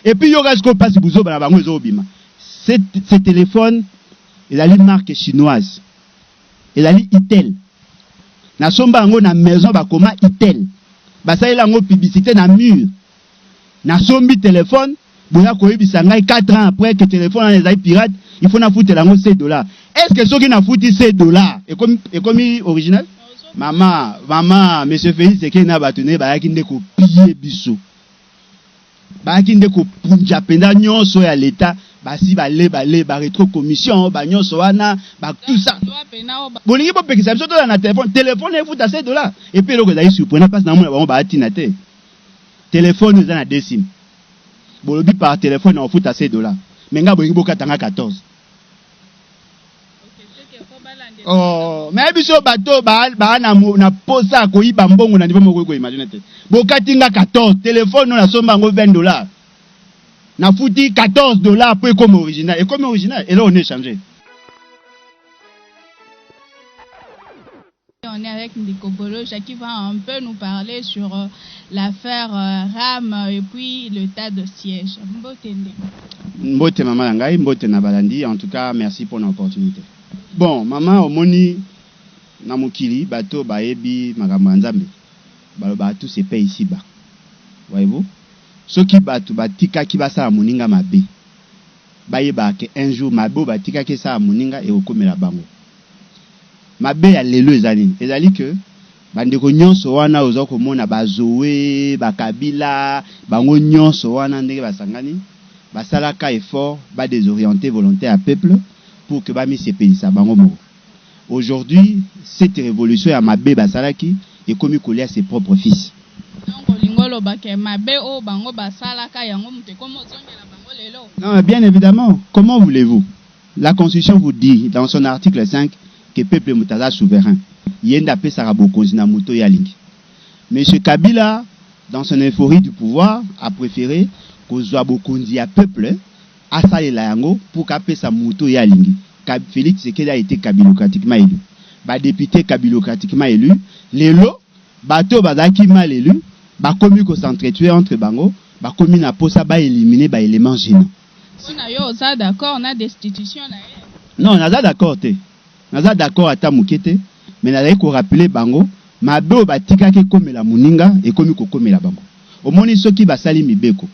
Et puis yoka sikoyo pasi buzoba na bango ezo bima. Ce telephone ezali marque chinoise. Ezali Itel. Na somba yango na maison ba koma Itel. Basalela yango publicité na mur. Na sombi telephone boya koyebisa ngai 4 ans après que telephone wana ezali pirate, il faut nafutela yango 100 dollars. Est ce que soki nafuti 100 dollars ekomi ekomi original? Mama, mama, monsieur Felix Tshisekedi na bato na ye bayaki nde ko piller biso. bayaki nde kopunja mpenza nyonso ya leta basi bale bale ba retro commission ba nyonso wana ba tout ça bolingi bopekisa biso tola na telefone telefone efuta se dola epe eloko ezali surprenant mpasi namona bango baatina te telefone eza na desim bolobi par telefone na kofuta se dola me ngai bolingi bokata ngai 14 Oh, mais biso bato ba ba na na posa koyiba mbongo na niveau moko ko imagine te. Bokati nga 14 telephone na somba ngo 20 dollars. Na futi 14 dollars pour comme original. Et comme original, et là on est changé. On est avec ndeko Bolo Jacqui va un peu nous parler sur l'affaire Ram et puis l'etat de siège. Mbote ndeko. Mbote maman na ngai, mbote na balandi, en tout cas merci pour na opportunite. Bon maman omoni na mokili bato bayebi makambo ya Nzambe balobaka tout se paie ici bas. Voyez-vous? Soki bato batikaki basala moninga mabe, bayebaka que un jour mabe oyo batikaki esala moninga ekokomela bango. Mabe ya lelo eza nini? Ezali que ba ndeko nionso wana oza komona ba Zoe, ba Kabila, bango nionso wana ndenge ba sangani ba sala ka effort ba desorienter volonte ya peuple pour que ba mi sepelisa bango moko. Aujourd'hui cette revolution ya mabe ba salaki ekomi kolia ses propres fils. Donc olingi oloba que mabe oyo bango ba salaka yango moto ekomi ozongela bango lelo? Non bien evidemment comment voulez-vous? La constitution vous dit dans son article 5 que peuple moto aza souverain ye nde apesaka bokonzi na moto oyo ye alingi. Monsieur Kabila dans son euphorie du pouvoir a prefere kozua bokonzi ya peuple asalela yango pour que apesa moto oyo ye alingi. Felix Tshisekedi a ete kabilocratiquement elu. Ba deputes kabilocratiquement elus. Lelo bato oyo bazalaki mal elus bakomi ko s'entretuer entre bango, bakomi na posa ba eliminer ba elements genants. Sina yo oza d'accord na destitution na ye? Non naza d'accord te naza d'accord ata muke te mais nazali ko rappeler bango mabe oyo batikaki ekomela muninga ekomi kokomela bango omoni soki basali mibeko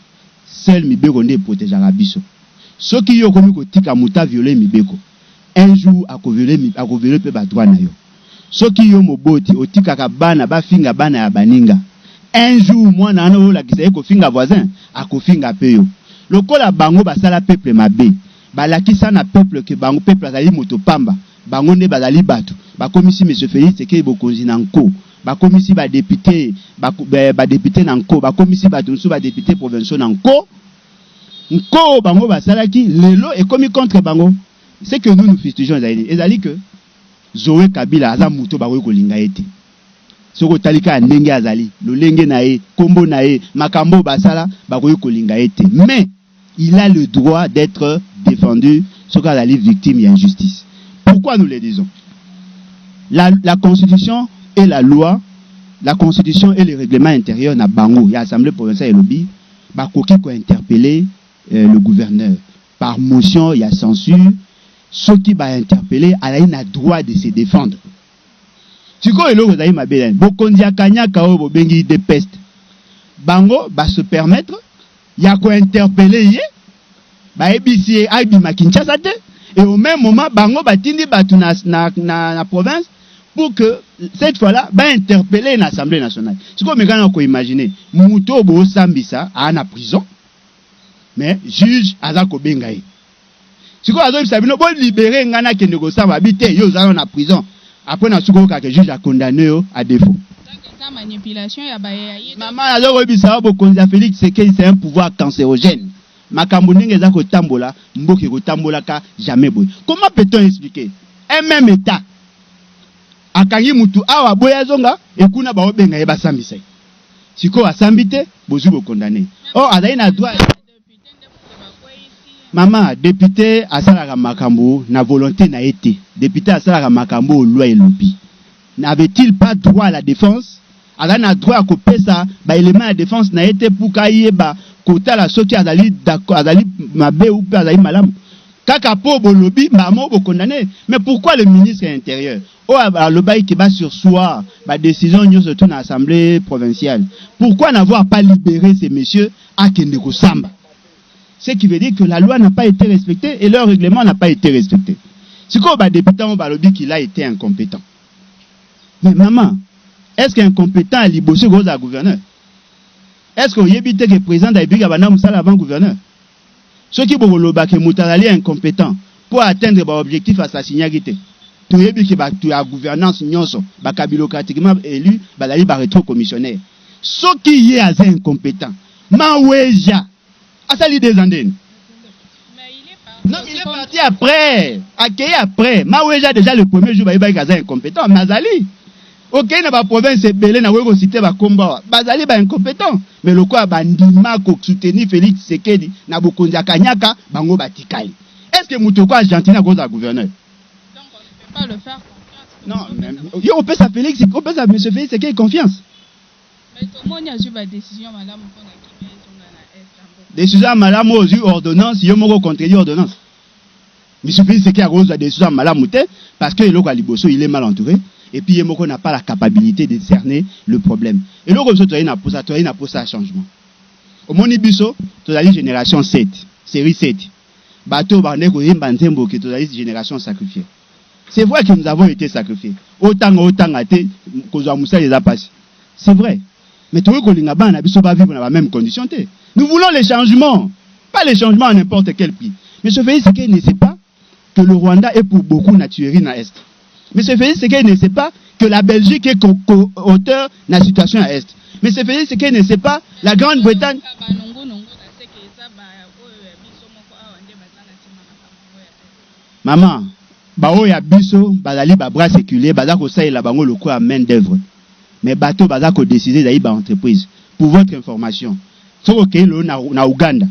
seul mibeko nde e protegaka biso soki yo okomi kotika mutu a violer mibeko un jour ako violer pe ba droit na yo. Soki yo moboti otikaka bana ba finga bana ya baninga, un jour mwana wana oyo olakisa ye ko finga voisin, ako finga pe yo. Lokola bango ba sala peuple mabe, ba lakisa na peuple que bango peuple azali moto pamba, bango nde bazali batu, ba komisi monsieur Felix Tshisekedi bokonzi na nko, ba komisi ba depute ba ba depute na nko, ba komisi batu mosusu ba depute provinciaux na nko. Nko oyo bango ba salaki lelo ekomi contre bango. Ce que nous nous fustigeons ezali nini? Ezali que. Zoe kabila aza mutu oyo bakoki kolinga ye te soki otali kaka ndenge azali lolenge na ye kombo na ye makambo oyo basala bakoki kolinga ye te mais il a le droit d'etre defendu soki azali victime ya injustice pourquoi nous le disons la la constitution et la loi la constitution et le règlement interieur na bango ya assemblee provinciale elobi bakoki ko interpeller euh, le gouverneur par motion ya censure soki ba interpelle ye azali na droit de se defendre sikoyo eloko ezali mabe na ye bokonzi ya kanyaka oyo bobengi udpest bango ba se permettre ya ko interpelle ye bayebisi ye abima Kinshasa te et au meme moment bango batindi batu na, na, na, na province pour que cette fois là ba interpelle ye na assemblee nationale sikoyo meka na ko imaginer moto oyo bosambisa aa na prison mais juge aza kobenga ye sikoyo azobisa bino bo libere ngai nakende kosamba abi te yo ozana na prison apres na suki oyokaka juge akondane yo a defo mama nazokoyebisa yo bokonzi ya felix sekei c'est un pouvoir cancerogène makambo ndenge eza kotambola mboka ekotambolaka jamais boye comment peut-on expliquer un même etat akangi mutu awa aboya azonga ekuna baobenga ye basambisa ye sikoyo asambi te bozui ko condamne or azali na droit Mama, depute asalaka makambo na volonte na ye te. Depute asalaka makambo oyo loi elobi. N'avait-il pas droit à la defense? Azali na droit ya kopesa ba elements ya defense na ye te pour que ayeba kotala soki azali d'accord, azali mabe ou pe azali malamu. Kaka po bolobi mbala moko bo condamner. Mais pourquoi le ministre ya interieur Oyo alobaki que ba sursoir ba decision nyoso tout na assemblee provinciale pourquoi n'avoir pas libere ce monsieur akende kosamba? Ce qui veut dire que la loi n'a pas ete respecte et leur reglement n'a pas ete respecte. Sikoyo ba depute yango balobi qu'il a ete incompetent mais maman est-ce que incompetent ya liboso ekoki kozala gouverneur? Est-ce que oyebi te que president de la republique abanda mosala avant gouverneur? Soki boko loba que moto azali incompetent po a atteindre ba objectifs a s'assignaki te, toyebi que batu ya gouvernance nionso ba kabilocratiquement elus bazali ba retrocommissionnaires. Soki ye aza incompetent, Maweja asali deux ans ndeni? Non, il est parti après, akeyi après. Maweja dejà le premier jour bayebaki que aza incompetent, mais azali. Okeyi na ba provinces ebele nakoki ko citer ba kombo awa, bazali ba incompetents mais lokola ba ndima ko soutenir Felix Tshisekedi na bokonzi ya kanyaka, bango batikali. Est ce que moto lokola Gentiny akoki kozala gouverneur? Donc on ne peut pas le faire confiance? Non, mais yo opesa Felix, opesa monsieur Felix Tshisekedi confiance? Mais tomoni azui ba decisions ya malamu pona kimia ezonga na Est ya mboka. Decision ya malamu oyo ozui ordonnance, yo moko o contredire ordonnance? Je suis prise seke akozwa decision ya malamu te parce que eloko ya liboso il est mal entoure et puis ye moko n'a pas la capabilite de cerner le problème. Eloko biso tozali na posa tozali na posa ya changement. Omoni biso tozali generation 7 serie 7 bato oyo bakandaki koyemba nzembo ke tozali generation sacrifier c'est vrai que nous avons ete sacrifier otanga otanga te kozwa mosala eza pasi c'est vrai Mais tokoki kolinga bana na biso ba vivre na ba meme condition te. Nous voulons les changements, pas les changements à n'importe quel prix. Monsieur Felix Tshisekedi ne sait pas que le Rwanda est pour beaucoup na tuerie na Est. Monsieur Felix Tshisekedi ne sait pas que la Belgique est co-auteur na situation ya Est. Monsieur Felix Tshisekedi ne sait pas la Grande-Bretagne Maman, ba oyo ya biso bazali ba bras seculiers baza kosalela bango lokola main d'oeuvre mais bato oyo baza ko decider ezali ba entreprises. Pour votre information, soki okeyi lelo na na Ouganda,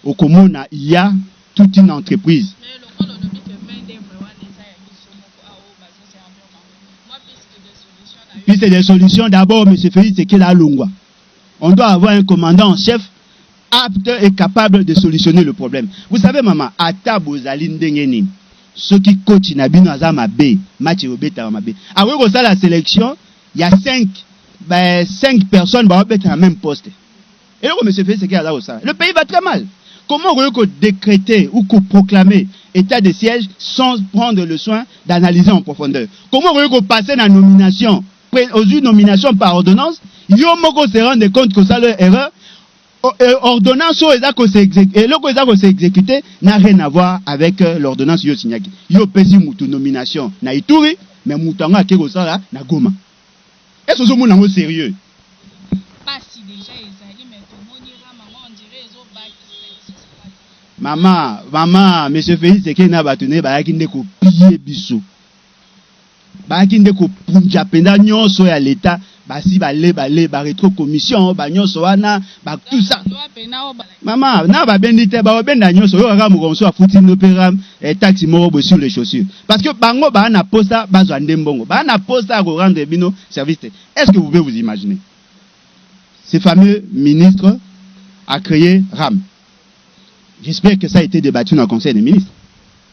okomona il ya toute une entreprise. Mais lokola olobi que main d'oeuvre wana eza ya biso moko awa oyo bazo servir bango, mwa piste de solution na yo? Piste de solution, d'abord monsieur Felix Tsekela alongwa, on doit avoir un commandant en chef. apte et capable de solutionner le problème vous savez mama ata bozali ndenge nini soki coach na bino aza mabe match ekobetama mabe akoki kosala selection ya 5 ba 5 personnes baobeta na meme poste eloko monsieur Félix Tshisekedi aza kosala le pays va très mal comment okoki ko décréter ou ko proclamer état de siège sans prendre le soin d'analyser en profondeur comment okoki ko passer na nomination ozui nomination par ordonnance yo moko se rendre compte kosala erreur euh, ordonnance oyo eza ko eloko eza ko s'exécuter n'a rien à voir avec euh, l'ordonnance yo signaki yo pesi mutu nomination na Ituri mais mutu yango ake kosala na Goma est-ce que ozomona yango sérieux pasi déjà ezali mais tomoni rama ngo on dirait ezo bakisa mama mama monsieur Félix Sekena bato ne bayaki nde kopie biso Bayaki nde kopunja mpenza nyonso ya leta basi bale bale ba retro commission ba nyonso wana ba tout ça mama na babendi te baobenda nyonso oyo kaka mokolo mosusu afuti no mpe eh, taxi moko boye sur les chaussures parce que bango baa na posa bazwa nde mbongo baa na posa ya korendre bino service te est ce que vous pouvez vous imaginer ce fameux ministre a créé ram j'espère que ça a été débattu na conseil des ministres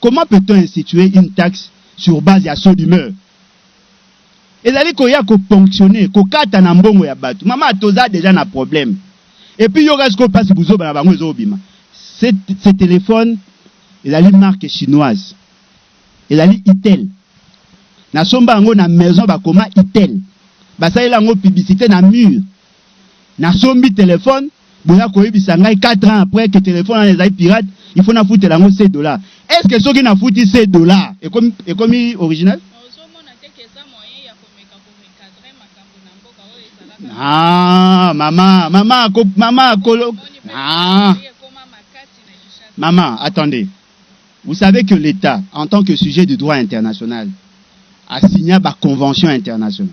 Comment peut-on instituer une taxe sur base ya saut d'humeur? Ezali koya ko ponctionner, kokata na mbongo ya batu. Mama, toza dejà na problème. Et puis yoka sikoyo pasi buzoba na bango ezo kobima. Ce, ce telephone ezali marque chinoise. Ezali Itel. Nasomba yango na maison bakoma Itel. Basalela yango publicite na mur. Na sombi telephone, boya koyebisa ngai quatre ans après que telephone wana ezali pirate, il faut nafutela yango ce dollars. Est ce que soki nafuti ce dollars, ekomi, ekomi original? Haa, mama, mama, ko, mama, kolo, haa. Mama, attendez. Vous savez que l'État, en tant que sujet du droit international, a signé ba conventions internationales.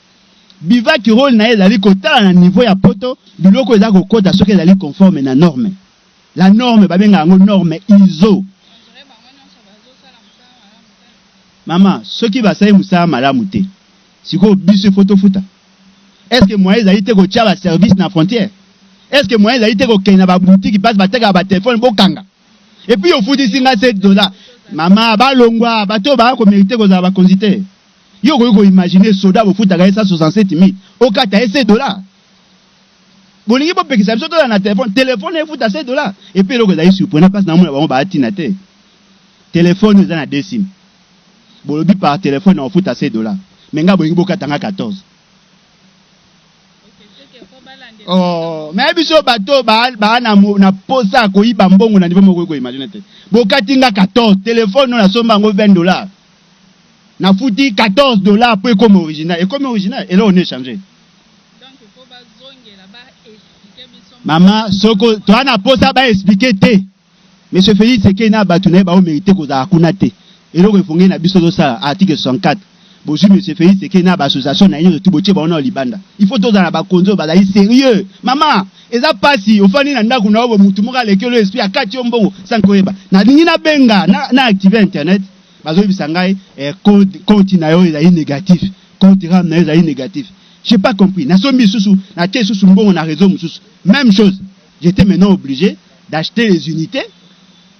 Bivac role na ye ezali kotala na niveau ya poto biloko eza kokota soki ezali conforme na norme. La norme babenga yango norme iso. Mama soki basali musala malamu te sikoyo biso il faut tofuta? Est ce que moyen ezali te kotia ba service na frontière? Est ce que moyen ezali te kokende na ba boutique place batekaka ba telephone bokanga et puis ofutisi nga 7 dollars? Mama balongwa bato oyo baya ko merite kozala bakonzi te. Yo okoki ko imaginer soda bofutaka ye 167000 okata ye 7 dollars? Bolingi bopekisa biso tozala na telephone? Telephone efuta 7 dollars? Epuis eloko ezali surprenant place naomona bango baya tina te telephone eza na deux sim bolobi par telephone nakofuta 7 dollars mais nga bolingi bokata nga 14 Oh, mais biso bato ba ba na na posa koyiba mbongo na niveau moko ko imaginer te. Bokati nga 14 telephone na somba ngo 20 dollars. nafuti 14 dollars po ekoma original ekomi original eloko ne change mama soko toa na posa ba expliquer te monsieur Felix Tshisekedi na bato na ye bao merite kozala kuna te eloko efonge na biso tozosala article 64 bozwi monsieur Felix Tshisekedi na ba association na ye nyonso tu botie bango nao libanda il faut tozala na bakonzi oyo bazali serieux mama eza pasi ofandi na ndako na yo bo motu moko aleki yo esprit akati yo mbongo sans koyeba nalingi nabenga na, na active internet Bazoyebisa ngai eh, code compte na yo ezali negatif, compte RAM na yo ezali negatif. J'ai pas compris. Nasombi lisusu, natie lisusu mbongo na réseau mosusu. Même chose. J'étais maintenant obligé d'acheter les unités.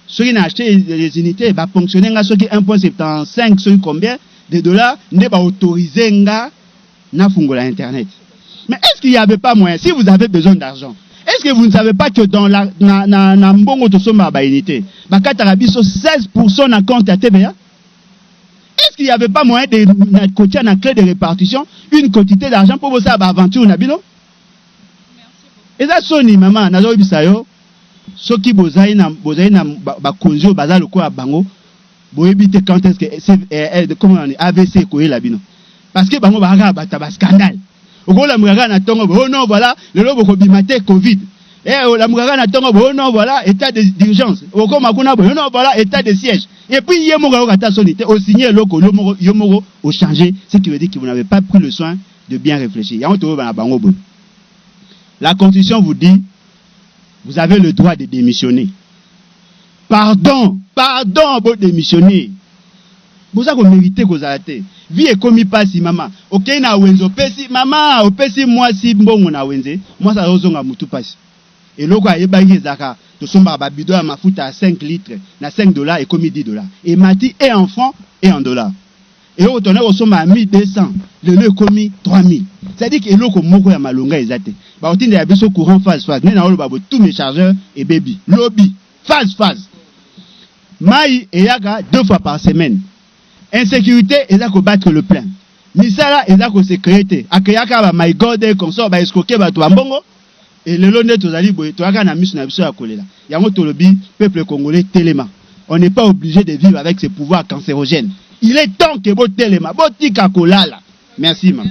Soki na acheter les unités, ba ponctionner nga soki 1.75 soki combien de dollars nde ba autoriser nga na fungola internet mais est-ce qu'il y avait pas moyen si vous avez besoin d'argent est-ce que vous ne savez pas que dans la na na, na mbongo tosomba ba unité bakataka biso 16% na compte ya TVA est-ce qu'il y avait pas moyen de na kotia na clé de répartition une quantité d'argent pour bosala ba aventure na bino eza soni mama nazoyebisa yo soki bozali na bozali na bakonzi oyo baza lokola bango Boyebi te quand est-ce que c'est eh, eh, comment on est AVC ekoyela bino. Parce que bango bakaka bata ba scandale. Okola mukaka na tongo oh non voilà lelo bokobima te Covid. Eh ola mukaka na tongo oh non voilà état d'urgence. Okoma kuna oh non voilà état de siège. Et puis hier moko okata soni te o signer loko yo moko yo moko o changer ce qui veut dire que vous n'avez pas pris le soin de bien réfléchir. Yango to ba bango bon. La constitution vous dit vous avez le droit de démissionner. Pardon pardon bo demissionne boza ko merite kozala te vie ekomi pasi mama okeyi na wenze opesi mama opesi mwasi mbongo na wenze mwasi azo zonga mutu pasi eloko ayebaki ezalaka tosombaka ba bidon ya mafuta ya 5 litre na 5 dollars ekomi 10 dollars emati et en franc et en dollars. Eloko tona kosomba ya 1200 lelo ekomi 3000 c'est à dire que eloko moko ya malonga eza te bakotindela biso courant phase phase nde naoloba bo tout mes chargeurs ebebi lobi phase phase mayi eyaka deux fois par semaine insecurite eza ko battre le plein misala eza ko se creer te a creaka ba my god consort ba escroquer bato ba mbongo Et lelo nde tozali boye toyaka na misu na biso ya kolela. Yango tolobi peuple congolais telema. On n'est pas oblige de vivre avec ce pouvoir cancerogène. Il est temps que bo telema, bo tika kolala. Merci maman.